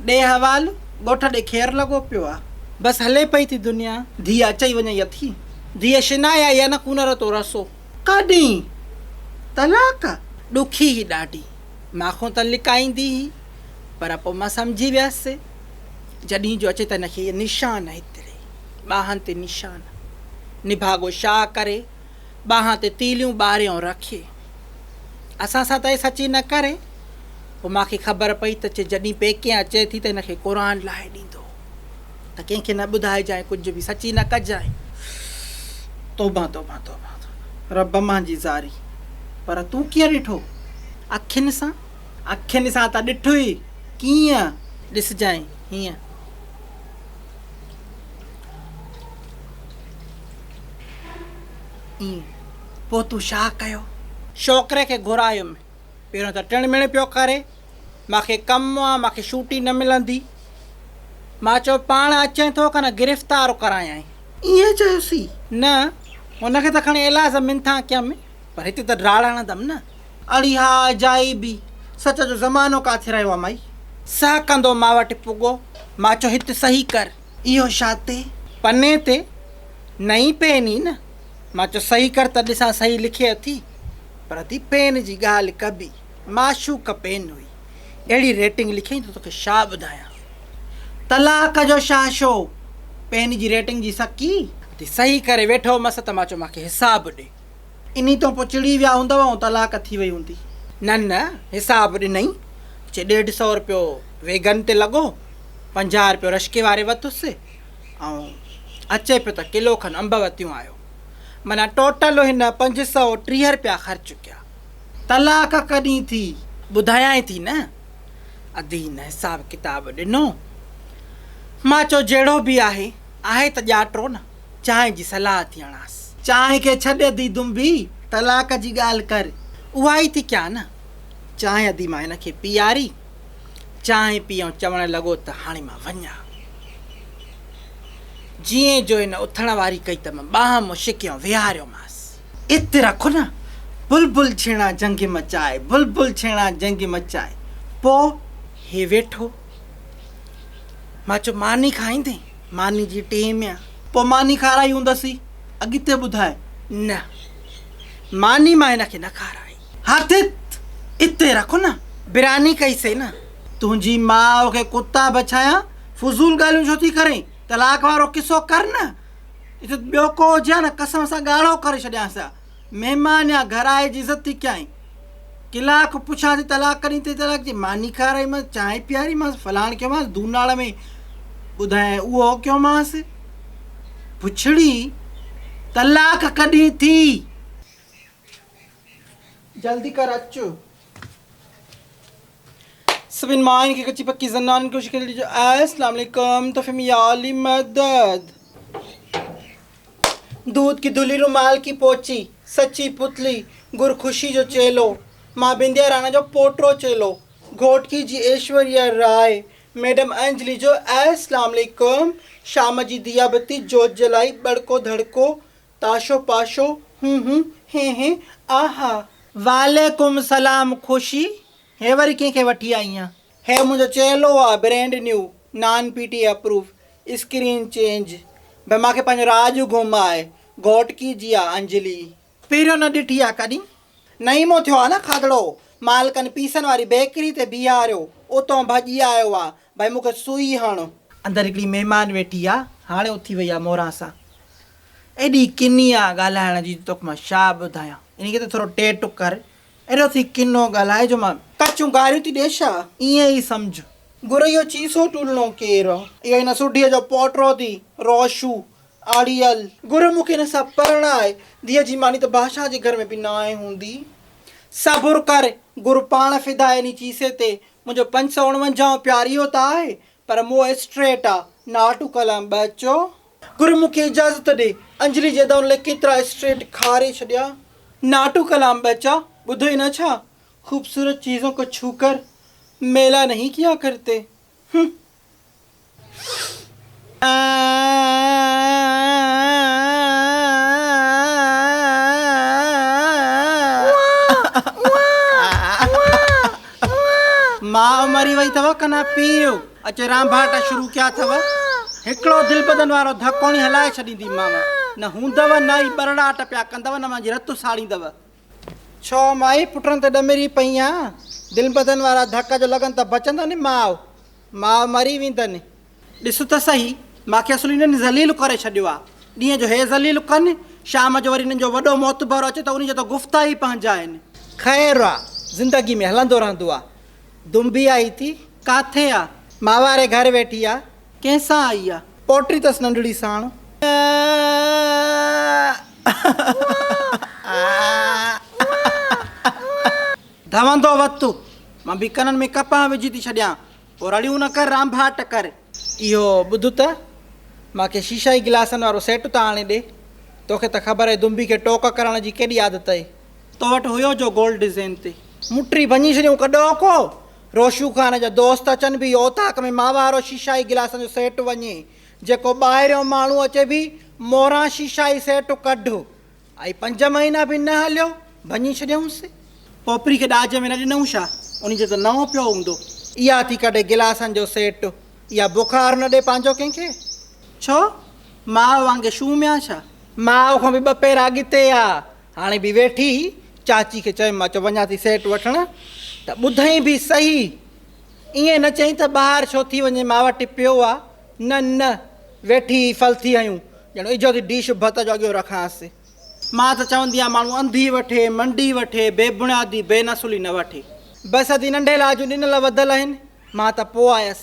ڏي حوال ڳوٺ ڏي خير لڳو پيو آ. بس هلي پئي ٿي دنيا. ڌيء اچئي وڃئي اٿي. ڌيء شنائي آئي ان ڪونر تو رسو. ڪا ڏينهين طلاق ڏکي هي ڏاڍي. مان کون ته لڪائيندي هي پر پوء مان سمجهي ويس جڏهين جو اچي ته هن کي نشان هتڙي ٻانهن تي نشان نڀاڳو شاهه ڪري. ٻانهن تي تيليون ٻاريون رکي اسان سان ته اهي سچي نه ڪري. پوء مان کي خبر پئي ته چي جڏهن پيڪي اچي ٿي ته هن کي قرآن لاهي ڏيندو ته ڪنهن کي نه ٻڌائجانء ڪجهه به سچي نه ڪجانء. توبه توبه توبه رب منهنجي زاري پر تون ڪيئن ڏٺو اکين سان؟ اکين سان ته ڏٺو ئي ڪيئن ڏسجانء هيئن. ائين پوء تون ڇا ڪيو؟ شوڪري کي گهرايم. پهريون ته ٽڻ مڻ پيو ڪري. مان کي ڪم آ، مان کي شوٽي نه ملندي. مان چيو پاڻ اچين ٿو ڪن گرفتار ڪرايانء. ائين چيوسين؟ نه، هن کي ته کڻي ايلاز منٿان ڪيم، پر هتي ته ڊاڙ هڻندم نه. اڙي ها اجائي بي، سچ جو زمانو ڪاٿي رهيو آ مائي. سهڪندو مان وٽ پڳو. مان چيو هت صحيح ڪر. اهو شاتي. پني تي نئين پين ئي نه. مان چيو صحيح ڪر ته ڏسان صحيح لکي اٿي. پر ادي پين جي ڳالهه ڪبي. معشوق پين هئي. اهڙي ريٽنگ لکيائين ته توکي شا ٻڌايان. طلاق جو شاهه شو. پين جي ريٽنگ جي سڪي. ادي صحيح ڪري ويٺو هومس ته مان چيو مان کي حساب ڏي. انهي تون پوء چڙي ويا هوندؤ ۽ طلاق ٿي وئي هوندي. نه نه حساب ڏنئي، چي ڏيڍ سئو رپيو ويڳن تي لڳو، پنجاهه رپيو رشڪي واري وتس، ۽ اچي پيو ته ڪلو کن انب وتيون آيو. معنيٰ ٽوٽل هن پنج سئو ٽيهه رپيا خرچ ڪيا. طلاق ڪڏهن ٿي؟ ٻڌايانء ٿي نه. ادين حساب ڪتاب ڏنو. مان چيو جهڙو به آهي، آهي ته ڄاٽرو نه. چانهه جي صلاح ٿي هڻانس. چانهه کي ڇڏ ادي دنبي طلاق جي ڳالهه ڪر اها ئي ٿي ڪيان نه. چانهه ادي مان هن کي پيئاري. چانهه پيئڻ چوڻ لڳو ته هاڻي مان وڃان. جيئن جو هن اٿڻ واري ڪئي ته مان ٻانهن مون شڪيون ويهاريومانس. ات رک نه بلبل ڇيڻا جنگ مچائي بلبل ڇيڻا جنگ مچائي پوء هي ويٺو. مان چيو ماني کائيندين؟ ماني جي ٽيم يا. پوء ماني کارائي هوندسي. اڳتي ٻڌاء. نه. ماني مان هن کي نه کارائي. هٿ اتي رک نه. براني ڪئي سي نه. تنهنجي ماء کي ڪتا بڇايان. فضول ڳالهيون ڇو ٿي ڪرين. طلاق وارو قصو ڪر نه. جتي ٻيو ڪو هجي ها نه قسم سان ڳاڙهو ڪري ڇڏيانس ها. مهمان يا گهر آئي جي عزت ٿي ڪيائين. قلعه کان پڇان ٿي طلاق ڪڏهن ٿي طلاق جي ماني کارائيمانس چانهه پياريمانس فلاڻ ڪيومانس دوناڙ ۾ ٻڌائين اهو ڪيومانس پڇڙي طلاق ڪڏهن ٿي. جلدي ڪر اچ. سڀني ماين کي ڪچي پڪي زنانن ڪوشش ڪري ڏجو اسلام عليڪم تحفي ۾ يا علي مدد دود ڪي دلي رومال ڪي پوچي سچي پتلي گر خوشي جو چيلو مان بنديا رانا جو پوٽرو چيلو گهوٽڪي جي ايشوريا راء ميڊم انجلي جو اسلام عليڪم شام جي ديا بتي جوت جلائي ٻڙڪو ڌڙڪو تاشو پاشو، هون هون، هين هين، آ ها. وعليڪم السلام خوشي، هي وري ڪنهن کي وٺي آئي آن. هي منهنجو چيلو آ brand new non P T اپروف screen change ڀي مانکي پنهنجو راڄ گم آهي گهوٽڪي جي آ انجلي. پهريون نه ڏٺي آ ڪڏهن. نعيمو ٿيو آ نه کاڌڙو. مالڪن پيسن واري بيڪري تي بيهاريو. اتئون ڀڄي آيو آ. ڀئي مون کي سوئي هڻ. اندر هڪڙي مهمان ويٺي آ. هاڻي اٿي وئي آ موران سان. ايڏي ڪني آ ڳالهائڻ جي جو توکي مان ڇا ٻڌايان. ان ڪري ٿورو ٽي ٽڪ ڪر. ايڏو ٿي ڪنو ڳالهاء جو مان. ڪچون گاريون ٿي ڏي ڇا؟ ائين ئي سمجهه. گريو چيسو ٽولڻو ڪير؟ اهو هن سوڍيء جو پوٽو ٿي روشو. آڙيل. گهر مون کي هن سان پرڻاء. ڌيء جي ماني ته بادشاهه جي گهر ۾ به ناهي هوندي. صبر ڪر. گهر پاڻ فدا ائني چيسي تي منهنجو پنج سؤ اڻونجاهون پياريو ته آهي پر مئو اسٽريٽ آ. ناٽو ڪلام ٻهچو. گهر مون کي اجازت ڏي. انجلي جي ادائن لاء ڪيترا اسٽريٽ کاري ڇڏيا. ناٽو ڪلام ٻهچا. ٻڌئي نه ڇا. خوبصورت چيزون ڪو ڇو ڪر ميلا نهين ڪيا ڪرتي. هه. ماء مري وئي اٿو ڪنا پيو اچي رانڀاٽا شروع ڪيا اٿو هڪڙو دل بدن وارو ڌڪوڻي هلائي ڇڏيندي ماما نه هوندو نه ئي برڙاٽ پيا ڪندو نه منهنجي رت ساڙيندو ڇو مائي پٽن تي ڏمري پئين آن؟ دل ٻڌن وارا ڌڪ جو لڳن ته بچندو ني ماء، ماء مري ويندء ني. ڏس ته سهي، مان کي اصل انهن ذليل ڪري ڇڏيو آ. ڏينهن جو هي ذليل ڪن، شام جو وري انهن جو وڏو معتبر اچي ته انهي جا ته گفتا ئي پنهنجا آهن. خير آ، زندگي ۾ هلندو رهندو آ. دنبي آئي ٿي، ڪاٿي آ؟ ماء واري گهر ويٺي آ. ڪنهن سان آئي آ. پوٽي تس ننڍڙي ساڻ. ڌوندو وت مان به ڪنن ۾ ڪپهه وجهي ٿي ڇڏيان. او رڙيون نه ڪر رانڀاٽ ڪر. اهو ٻڌ ته، مان کي شيشائي گلاسن وارو سيٽ ته آڻي ڏي. توکي ته خبر اهي دنبي کي ٽوڪ ڪرڻ جي ڪيڏي عادت اهي. تو وٽ هيو جو گولڊ ڊزين تي. مٽري ڀڃي ڇڏيون ڪڏهوڪو. روشو خان جا دوست اچن ڀي اوطاق ۾ ماء وارو شيشائي گلاسن جو سيٽ وڃي جيڪو ٻاهريون ماڻهو اچي ڀي موران شيشائي سيٽ ڪڍ اهي پنج مهينا ڀي نه هليو ڀڃي ڇڏيونس. پوپري کي ڏاج ۾ نه ڏنئون ڇا انهي جي ته نئون پيو هوندو. اها ٿي ڪڍي گلاسن جو سيٽ اها بخار نه ڏي پنهنجو ڪنهن کي ڇو ماء وانگي شوميان ڇا. ماء کان ڀي ٻه پير اڳتي آ. هاڻي به ويٺي هئي، چاچي کي چيم مان چيو وڃان ٿي سيٽ وٺڻ ته ٻڌئين به صحيح، ائين نه چئين ته ٻاهر ڇو ٿي وڃين مان وٽ پيو آ، نه نه ويٺي هئي ڦل ٿي هنيون، ڄڻ اجهو ٿي ڊش ڀت جو اڳيو رکانس. مان ته چوندي آهيان ماڻهو انڌي وٺي، منڊي وٺي، بي بڻيادي، بي نسلي نه وٺي. بس ادي ننڍي لاء جون ڏنل وڌل آهن، مان ته پوء آيس.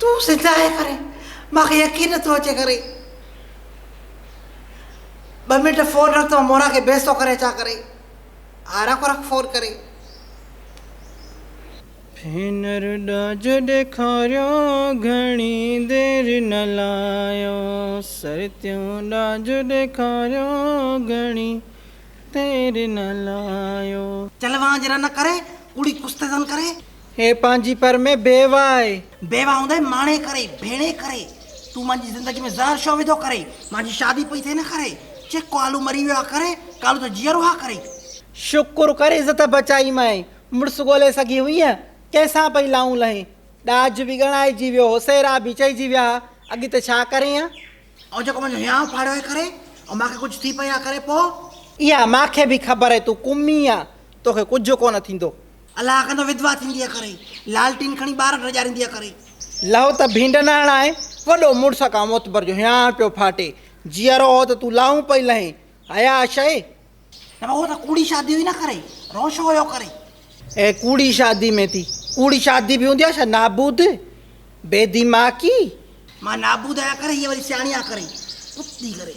تون زنده آهين ڪري مان کي يقين نٿو اچي ڪري ٻه منٽ فون رک ته مورا کي بيستو ڪري اچان ڪري ها رک رک فون ڪري ڀينر ڏاج ڏيکاريو گهڻي دير نه لايو سرتيون ڏاج ڏيکاريو گهڻي دير نه لايو. چلوانج رن ڪري ڪوڙي ڪستدن ڪري. هي پنهنجي پر ۾ بيوه آهي. بيوه هوندي ماڻي ڪري، ڀيڻي ڪري، تون منهنجي زندگي ۾ زهر ڇو وڌو ڪري، منهنجي شادي پئي ٿئي نه ڪري، چي ڪالو مري ويو آ ڪري، ڪالو ته جيئرو آ ڪري. شڪر ڪر عزت بچائي مئين، مڙس ڳولي سگهي هئينء، ڪنهن سان پئي لائون لهين، ڏاج به ڳڻائجي ويو هو، سيرا به چئجي ويا ها، اڳتي ڇا ڪرين ها؟ ائين جيڪو منهنجو هيانء ڦاڙيو آهي ڪري، ۽ مان کي ڪجهه ٿي پئي آ ڪري، پوء؟ اها مان کي به خبر آهي تون ڪمي آ، توکي ڪجهه ڪونه ٿيندو. الله ڪندو وڌوا ٿينديء ڪري. لالٽين کڻي ٻار ڊڄارينديء ڪري. لهو ته ڀينڊ نه هڻائي. وڏو مڙس کان معتبر جو هيانء پيو ڦاٽي. جيئرو هو ته تون لاهون پئي لهين. حياء شيء. نه هو ته ڪوڙي شاديون ئي نه ڪري. رون ڇو هيو ڪري. اهي ڪوڙي شادي ۾ ٿي. ڪوڙي شادي به هوندي آهي ڇا نابود بي ديماڪي. مان نابود آهيان ڪري هيء وري سياڻي آهي ڪري. ڪتي ڪري.